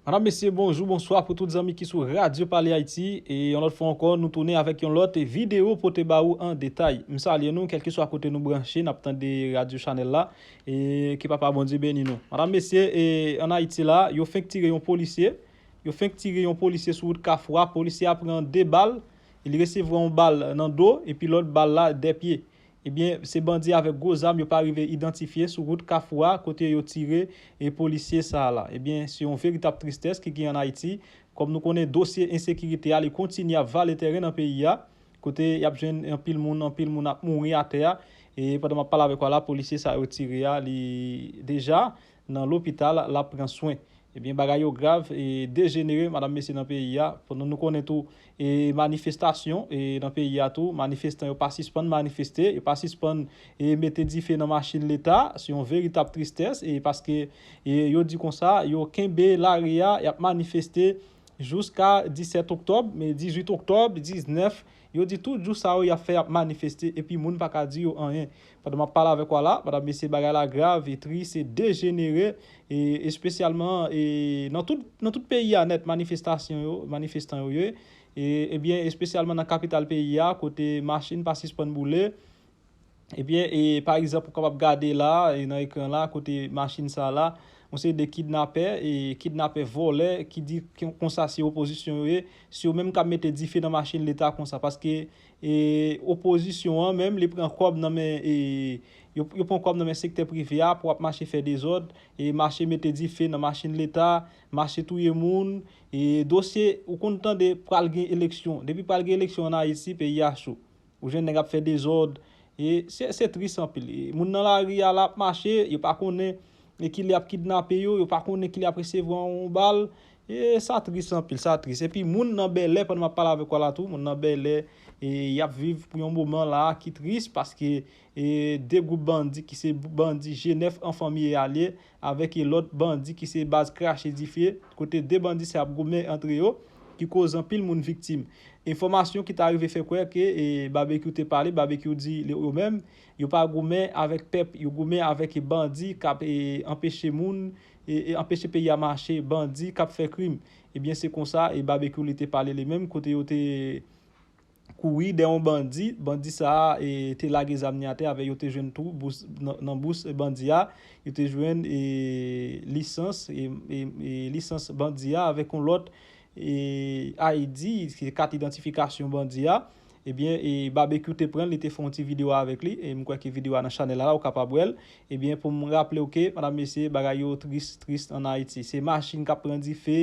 Madame, Mesye, bonjou, bonswa pou tout zanmi ki sou Radio Pale Ayiti. E yon lòt fwa ankò, nou tounen avèk yon lòt videyo pote ba ou an detay. M salye nou, kèlke swa kote nou branche, n ap tande radyo chanèl la. E ke Papa Bondye beni nou. Madame, Mesye, e an Ayiti la, yo fenk tire yon polisye. Yo fenk tire yon polisye sou wout Kafou a. Polisye a pran 2 bal. Li resevwa yon bal nan do, epi lòt bal la dè pye. Ebyen se bandi avèk gwo zam yo pa rive idantifye sou wout kafou a kote yo tire e polisye sa la. Ebyen se yon veritab tristès ki gen an Ayiti kòm nou konnen dosye ensekirite a li kontinye ap vale tèren nan peyi a kote yap jwenn anpil moun anpil moun ap mouri atè a e pandan map pale avèk ou a la polisye sa yo tire a li deja nan lopital lap pran swen ebyen bagay yo grav e dejenere madam mesye nan peyi a pandan nou konnen tou e manifestasyon e nan peyi a tou manifestan yo pa sispann manifeste yo pa sispann e mete dife nan machin leta se yon veritab tristès e paske e yo di konsa yo kenbe lari a yap manifeste jouska 17 oktòb men 18 oktòb 19 Yo di tout jou sa yo yap fè yap manifeste epi moun pa ka di yo anyen. Pandan map pale avèk ou a la, madam mesye bagay la grav e tris e dejenere e espesyalman e nan tout nan tout peyi a nèt manifestasyon yo manifestan yo ye e ebyen espesyalman nan kapital peyi a kote machin pa sispann boule Ebyen, e pa egzanp ou kapab gade la a, e nan ekran la a kote machin sa a la, yon seri de kidnapè, e kidnapè vòlè ki di konsa se opozisyon yo ye, se yo menm k ap mete dife nan machin leta konsa paske e opozisyon an menm li pran kòb nan men e yo pran kòb nan men sektè prive a pou ap mache fè dezòd, e mache mete dife nan machin leta, mache touye moun, e dosye ou konn tande pral gen eleksyon, depi pral gen eleksyon an Ayiti peyi a cho. Ou jwenn nèg ap fè dezòd, e se tris anpil. Moun nan lari a la ap mache, yo pa konnen ki lè y ap kidnape yo, yo pa konnen ki lè y ap resevwa yon bal. E sa tris anpil, sa tris. Epi moun nan Bèlè, pandan m ap pale avèk ou a la tou, moun nan Bèlè, y ap viv pou yon moman la a ki tris paske E 2 gwoup bandi ki se bandi G9 an fanmi e alye avèk e lòt bandi ki se baz krache dife, kote 2 bandi sa ap goumen antre yo, ki koz anpil moun viktim. Enfòmasyon ki ta rive fè kwè ke e Babekyou te pale, Babekyou di le yo menm, yo pa goumen avèk pèp, yo goumen avèk e bandi k ap e anpeche moun, e e anpeche peyi a mache, bandi k ap fè krim. Ebyen se konsa e Babekyou li te pale li menm, kote yo te. kouri dè yon bandi, bandi sa a te lage zam ni atè avè yo te jwenn tou bous nan bous bandi a yo te jwenn lisans lisans bandi a avèk yon lòt ID se kat idantifikasyon bandi a ebyen Babekyou te pran li te fè yon ti video avèk li e m kwè ke video a nan chanèl la ou kapab wè l ebyen pou m raple w ke medam mesye bagay yo tris tris an Ayiti se machin k ap pran dife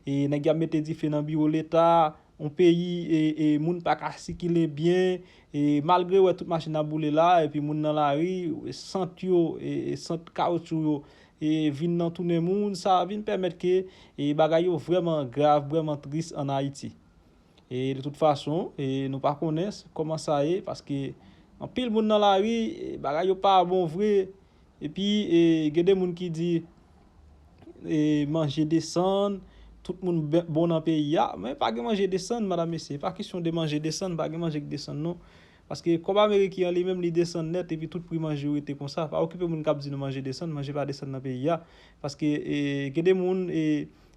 e nèg y ap mete dife nan biwo leta. Yon peyi e moun pa ka sikile byen e malgre ou wè tout machin ap boule la epi moun nan lari, sant yo, sant kawoutchou yo e vin nan tounen moun sa vin pèmèt ke e bagay yo vrèman grav, vrèman tris an Ayiti. E de tout fason e nou pa konnen kòman sa ye paske anpil moun nan lari, bagay yo pa bon vre epi e gen de moun ki di manje desann, tout moun bon nan peyi a, men pa gen manje desann medam mesye, e pa kesyon de manje desann, pa gen manje ki desann non, paske kòb ameriken an li menm li desann nèt epi tout pri manje yo rete konsa, pa okipe moun k ap di nou manje desann, manje pa desann nan peyi a, paske gen de moun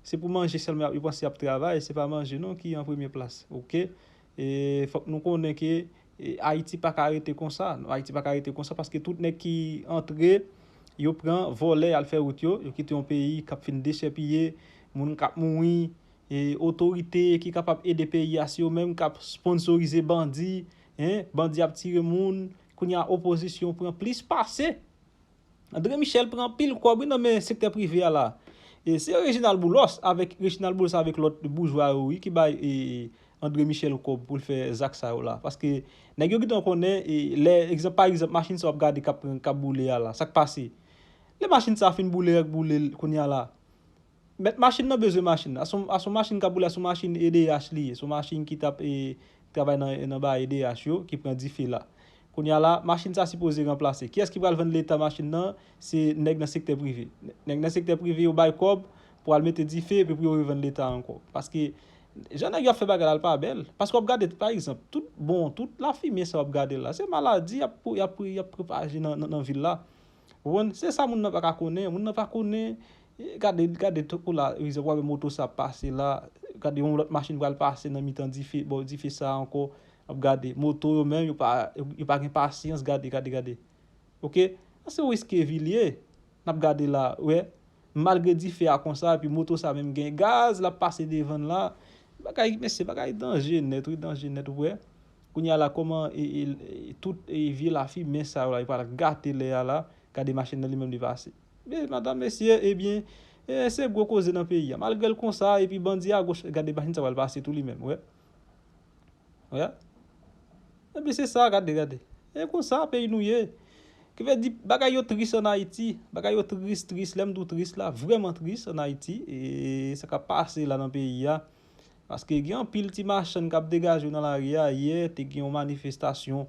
se pou manje sèlman yo panse y ap travay, se pa manje non ki an premye plas, ok, fòk nou konnen ke Ayiti pa ka rete konsa, Ayiti pa ka rete konsa paske tout nèg ki antre yo pran vòlè yal fè wout yo, yo kite yon peyi kap fin dechèpiye, moun kap mouri, e otorite ki kapab ede peyi a se yo menm kap sponsorize bandi, hein, bandi ap tire moun, kounye a opozisyon pran plis pase. Andre Michel pran anpil kòb wi nan men sektè prive a la. Se Reginald Boulos avèk Reginald Boulos avèk lòt boujwa yo wi ki bay Andre Michel kòb pou l fè zak sa yo la. Paske nèg yo gentan konnen lè egzanp pa egzanp machin sa w ap gade k ap boule a la sa k pase. Lè machin sa fin boule rèk boule l kounya la Mèt machin nan bezwen machin nan. A s on machin k ap woule, a s on machin edh li ye. S on machin ki t ap travay nan ba edh yo ki pran dife la. Kounye a la, machin sa sipoze ranplase. Kiyès ki pral vann Leta machin nan? Se nèg nan sektè prive. Nèg nan sektè prive yo bay kòb pou al mete dife epi pou yo revann Leta ankò. Paske, jan nèg yo ap fè bagay la, l pa bèl. Paske w ap gade, pa egzanp, tout bon, tout lafimye sa w ap gade la, se maladi y ap pwopaje nan vil la. Ou konprann? Se sa moun nan pa ka konnen. Moun nan pa konnen, gade, gade tankou la, egzanp, ou wè moto sa ap pase la, gade yon lòt machin pral pase nan mitan dife, bò dife sa a ankò, w ap gade. Moto yo menm, yo pa, yo pa gen pasyans, gade, gade, gade. Ok? Sa se yon eske vi l ye, n ap gade la, ou wè. Malgre dife a konsa, epi moto sa menm gen gaz, l ap pase devan l la. Bagay, mesye, bagay danje nèt wi, danje nèt, ou wè. Kounya la koman tout vye lafi mens sa yo la yo pa al gate lè a la gade machin nan li menm li pase e madam mesye ebyen se gwo koze nan peyi a malgre l konsa epi bandi agoch gade machin sa pral pase tou li menm wè wè ebyen se sa gade gade e konsa peyi nou ye ki vle di bagay yo tris an ayiti bagay yo tris tris lè m di w tris la vrèman tris an ayiti e sa k ap pase la nan peyi a. Paske gen anpil ti machann kap degaje yo nan lari a, yè te gen yon manifestasyon,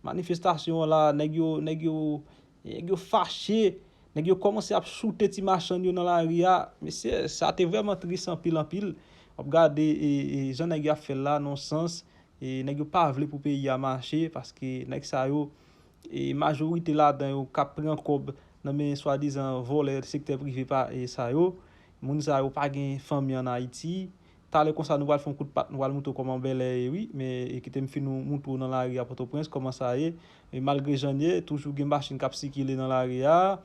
manifestasyon an la nèg yo, nèg yo, nèg yo fache, nèg yo kòmanse ap choute ti machann yo nan lari a, mesye sa te vrèman tris anpil anpil, wap gade jan nèg yo ap fè la non sans, nèg yo pa vle pou peyi a mache, paske nèg sa yo majorite ladan yo kap pran kòb nan men swadizan vòlè sektè prive sa yo. Moun sa yo pa gen fanmi an Ayiti. Talè konsa nou pral fè yon kout pat, nou pral montre w kòman Bèlè ye wi. Men, kite m fin ou montre w nan lari a Pòtoprens kòman sa ye. E malgre jan l ye, toujou gen machin k ap sikile nan lari a.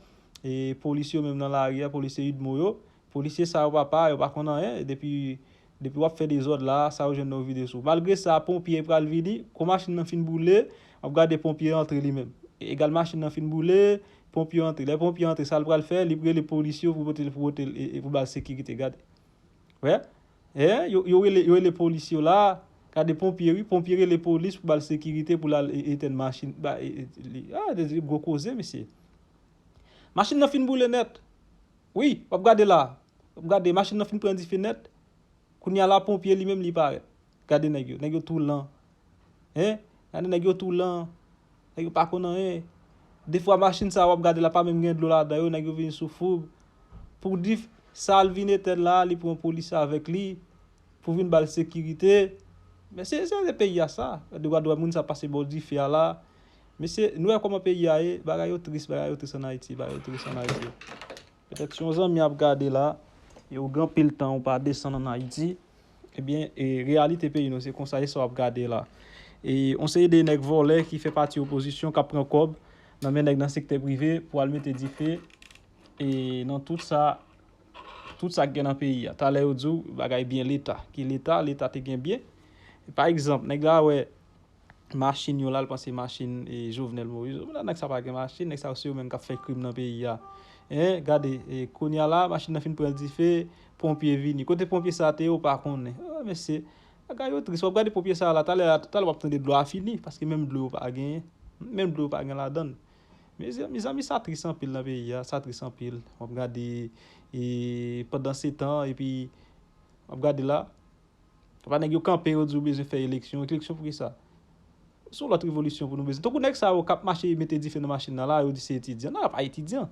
E polis yo menm nan lari a, polisye udmo yo. Polisye sa yo papa, yo pa konn anyen. Depi Depi wap fè dezòd la, sa yo jwenn nan yo vide sou ou. Malgre sa, ponpye pral vini, kou machin nan fin boule, wap gade ponpye antre li menm. Egal machin nan fin boule, ponpye antre. Lè ponpye antre, sa l pral fè? Li pou rele polis yo pou pote l, pou pote l, e pou ba l sekirite. Gade. Wè? E, yo, yo rele, yo rele polis yo la. Gade ponpye wi. Ponpye rele polis pou ba l sekirite pou l al e, etèn machin, ba e, e li. A, de, de gwo koze mesye. Machin nan fin boule nèt. Wi, wap gade la. Gade machin nan fin pran dife nèt Kounye a la ponpye li menm li parèt Gade nèg yo Nèg yo tou lan Hein Gade nèg yo tou lan Nèg yo pa konn anyen Defwa machin sa a w ap gade la pa menm gen dlo ladan yo Nèg yo vin sou foug Pou dif sa l vin etèn la a li pran polisye avèk li Pou vin ba l sekirite Men se se se peyi a sa Gade gad moun sa pase bò dife a la a Mesye nou wè kòman peyi a ye Bagay yo tris bagay yo tris ann Ayiti Bagay yo tris ann Ayiti Petèt si yon zanmi ap gade la e ou gen anpil tan ou pa desann an Ayiti, ebyen e reyalite peyi nou se konsa e sa w ap gade la. E yon seri de nèg vòlè ki fè pati opozisyon k ap pran kòb nan men nèg nan sektè prive pou al mete dife e nan tout sa tout sa k gen nan peyi a. Talè yo di w bagay byen Leta. Ki Leta? Leta te gen byen. Pa egzanp, nèg la wè. machin yo la l panse machin e jovenel moïse ou nan nèg sa pa gen machin nèg sa yo se yo menm kap fè krim nan peyi a hein gade e kounya la machin nan fin pran dife ponpye vini kote ponpye sa te ye ou pa konnen oh mesye bagay yo tris wap gade ponpye sa la talè a talè wap tande dlo a fini paske menm dlo yo pa gen menm dlo yo pa gen ladann mezi mezanmi sa tris anpil nan peyi a sa tris anpil wap gade e pandan se tan epi wap gade la Epa nèg yo kanpe yo di yo bezwen fè eleksyon, eleksyon poukisa? Se yon lòt revolisyon pou nou bezwen. Tankou nèg sa yo kap mache mete dife nan machin nan la, yo di se etidyan. Non yo pa etidyan.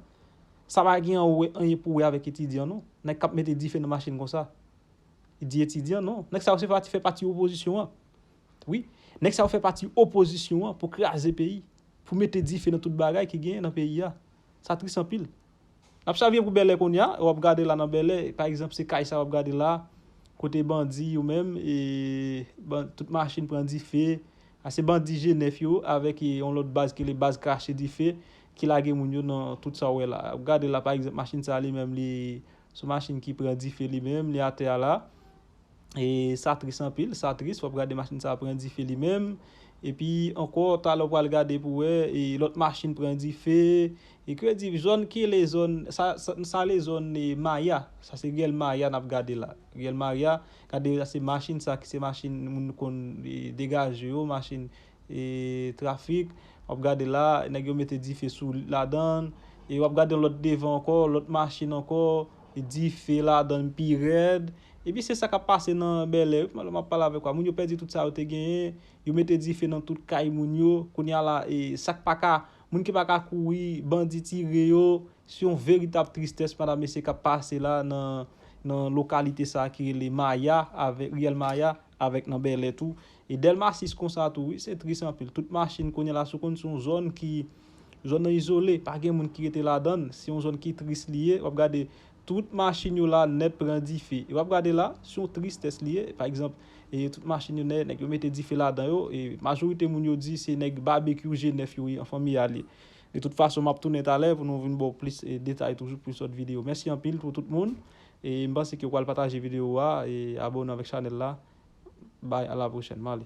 Sa pa gen anyen pou wè avèk etidyan non. Nèg kap mete dife nan machin konsa. Li di etidyan non. Nèg sa yo se pati fè pati opozisyon an. Wi. Nèg sa yo fè pati opozisyon an pou kraze peyi. Pou mete dife nan tout bagay ki gen nan peyi a. Sa tris anpil. Nap chavire pou bèlè kounya e wap gade la nan bèlè pa egzanp se kay sa wap gade la kote bandi yo menm e tout machin pran dife a se bandi jenèf yo avèk yon lòt baz ki rele baz krache dife ki lage moun yo nan tout sa ou wè la wap gade la pa egzanp machin sa li menm li Son machin ki pran dife li menm, li atè a la. E sa tris anpil, sa tris, wap gade machin sa pran dife li menm. E pi ankò talè ou pral gade pou wè e lòt machin pran dife. E ke di zòn ki rele zòn, sa sa rele zòn e maya, sa se riyèl maya nap gade la. Riyèl maya, gade se machin sa ki se machin moun konn e degaje yo, machin. e trafik wap gade la nèg yo mete dife sou ladann e wap gade yon lòt devan ankò lòt machin ankò dife ladann pi rèd epi se sa kap pase nan bèlè wi map pale avèk ou a moun yo pèdi tout sa yo te genyen yo mete dife nan tout kay moun yo kounya la e sak paka moun ki paka kouri bandi tire yo se yon veritab tristès madam mesye kap pase la nan lokalite sa ki rele maya avèk riyèl maya. Avèk nan Bèlè tou. E Dèlma 6 konsa tou wi. Se tris anpil. Tout machin kounye la sou konn se yon zòn ki zòn nan izole. Pa gen moun ki rete ladan l. Se yon zòn ki tris li ye. W ap gade tout machin yo la nèt pran dife. E w ap gade la, se yon tristès li ye. Pa egzanp, e tout machin yo nèt, nèg yo mete dife ladan yo. E majorite moun yo di se nèg Babekyou G9 yo ye, anfan Mia l ye. De tout fason, m ap tounen talè pou nou vin ba w plis detay toujou pou yon sot videyo. Mèsi anpil pou tout moun E m panse ke ou pral pataje video a e abone avek chanel la bye a la prochèn m ale.